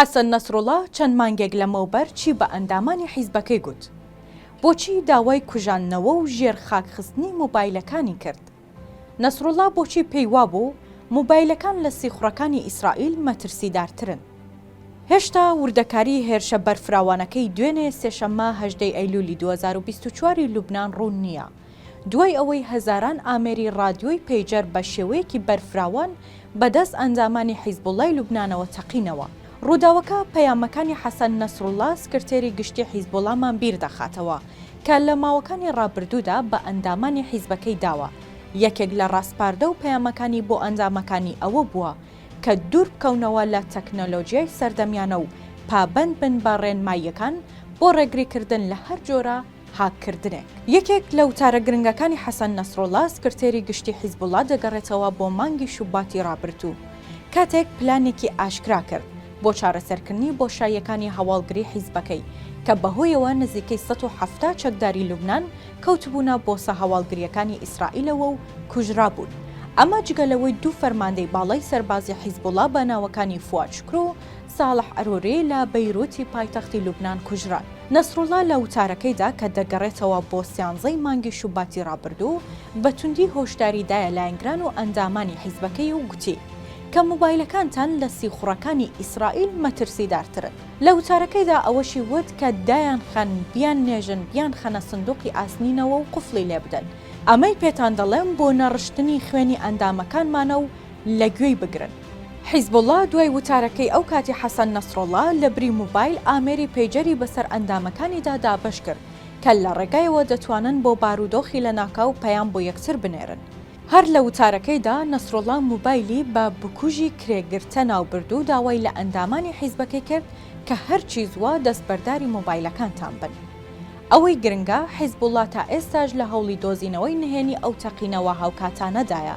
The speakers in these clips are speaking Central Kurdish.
حەسەن نەسروڵا چەند مانگێک لەمەوبەر چی بە ئەندامانی حیزبەکەی گوت؟ بۆچی داوای کوژاندنەوە و ژێر خاک خستنی مۆبایلەکانی کرد؟ نەسروڵا بۆچی پێی وابوو مۆبایلەکان لە سیخوڕەکانی ئیسرائیل مەترسیدارترن؟ هێشتا وردەکاری هێرشە بەرفراوانەکەی دوێنێ سێشەممە هەژدە ی ئەیلوولی دوو هەزار و بیست و چوار ی لوبنان ڕوون نییە. دوای ئەوەی هەزاران ئامێری ڕادیۆی پەیجەر بە شێوەیەکی بەرفراوان بەدەست ئەندامانی حیزبوڵڵای لوبنانەوە تەقینەوە. ڕووداوەکە پەیامەکانی حەسەن نەسروڵڵا سکرتێری گشتی حیزبوڵڵامان بیر دەخاتەوە کە لە ماوەکانی ڕابردوودا بە ئەندامانی حیزبەکەی داوە، یەکێک لە ڕاسپاردە و پەیامەکانی بۆ ئەندامەکانی ئەوە بووە کە دوور بکەونەوە لە تەکنەلۆجیای سەردەمیانە و پابەند بن بە ڕێنماییەکان بۆ ڕێگریکردن لە هەر جۆرە هاککردنێک. یەکێک لە وتارە گرنگەکانی حەسەن نەسروڵڵا، سکرتێری گشتی حیزبوڵڵا دەگەڕێتەوە بۆ مانگی شوباتی ڕابردوو، کاتێک پلانێکی ئاشکرا کرد بۆ چارەسەرکردنی بۆشاییەکانی هەواڵگری حیزبەکەی، کە بەهۆیەوە نزیکەی سەد و حەفتا چەکداری لوبنان کەوتبوونە بۆسە هەواڵگرییەکانی ئیسرائیلەوە و کوژرابوون، ئەمە جگە لەوەی دوو فەرماندەی باڵای سەربازی حیزبوڵڵا بە ناوەکانی فواد شوکرو ساڵح عروری لە بەیروتی پایتەختی لوبنان کوژران. نەسروڵڵا لە وتارەکەیدا کە دەگەڕێتەوە بۆ سیانزەی مانگی شوباتی ڕابردوو، بە توندی هۆشداری دایە لایەنگران و ئەندامانی حیزبەکەی و گوتی، کە موبایلەکانتان لە سیخوڕەکانی ئیسرائیل مەترسیدارترن. لە وتارەکەیدا ئەوەشی وت کە دایانخەن، بیاننێژن، بیانخەنە سندوقی ئاسنینەوە و قفڵی لێ بدەن، ئەمەی پێتان دەڵێم بۆ نەڕشتنی خوێنی ئەندامەکانمانە و لە گوێی بگرن. حیزبوڵڵا دوای وتارەکەی ئەو کاتی حەسەن نەسروڵڵا لە بری موبایل ئامێری پەیجەری بەسەر ئەندامەکانیدا دابەش کرد کە لە ڕێگایەوە دەتوانن بۆ بارودۆخی لەناکاو پەیام بۆ یەکتر بنێرن. هەر لە وتارەکەیدا نەسروڵڵا موبایلی بە بکوژی کرێگرتە ناوبرد و داوای لە ئەندامانی حیزبەکەی کرد کە هەرچی زووە دەستبەرداری موبایلەکانتان بن. ئەوەی گرنگە حیزبوڵڵا تا ئێستاش لە هەوڵی دۆزینەوەی نهێنی ئەو تەقینەوە هاوکاتانەدایە.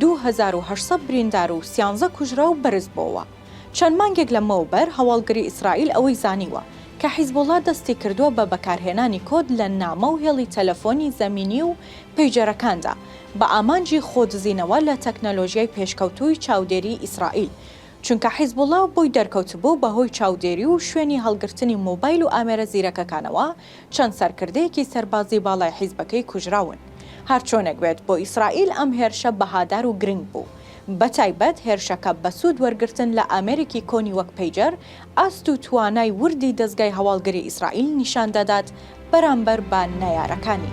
دوو هەزار و هەشت سەد بریندار و سیانزە کوژراو بەرزبۆوە. چەند مانگێک لەمەوبەر هەواڵگری ئیسرائیل ئەوەی زانیوە کە حیزبوڵا دەستی کردووە بە بەکارهێنانی کۆد لە نامە و هێڵی تەلەفۆنی زەمینی و پەیجەرەکاندا بە ئامانجی خۆدزینەوە لە تەکنەلۆژیای پێشکەوتووی چاودێری ئیسرائیل چونکە حیزبوڵا بۆی دەرکەوتبوو بەهۆی چاودێری و شوێنی هەڵگرتنی مۆبایل و ئامێرە زیرەکەکانەوە چەند سەرکردەیەکی سەربازی باڵای حیزبەکەی کوژراون. هەرچۆنێک بێت بۆ ئیسرائیل ئەم هێرشە بەهادار و گرنگ بوو. بەتایبەت هێرشەکە بە سوود وەرگرتن لە ئامێرێکی کۆنی وەک پەیجەر ئاست و توانای وردی دەزگای هەواڵگری ئیسرائیل نیشان دەدات بەرامبەر بە نەیارەکانی.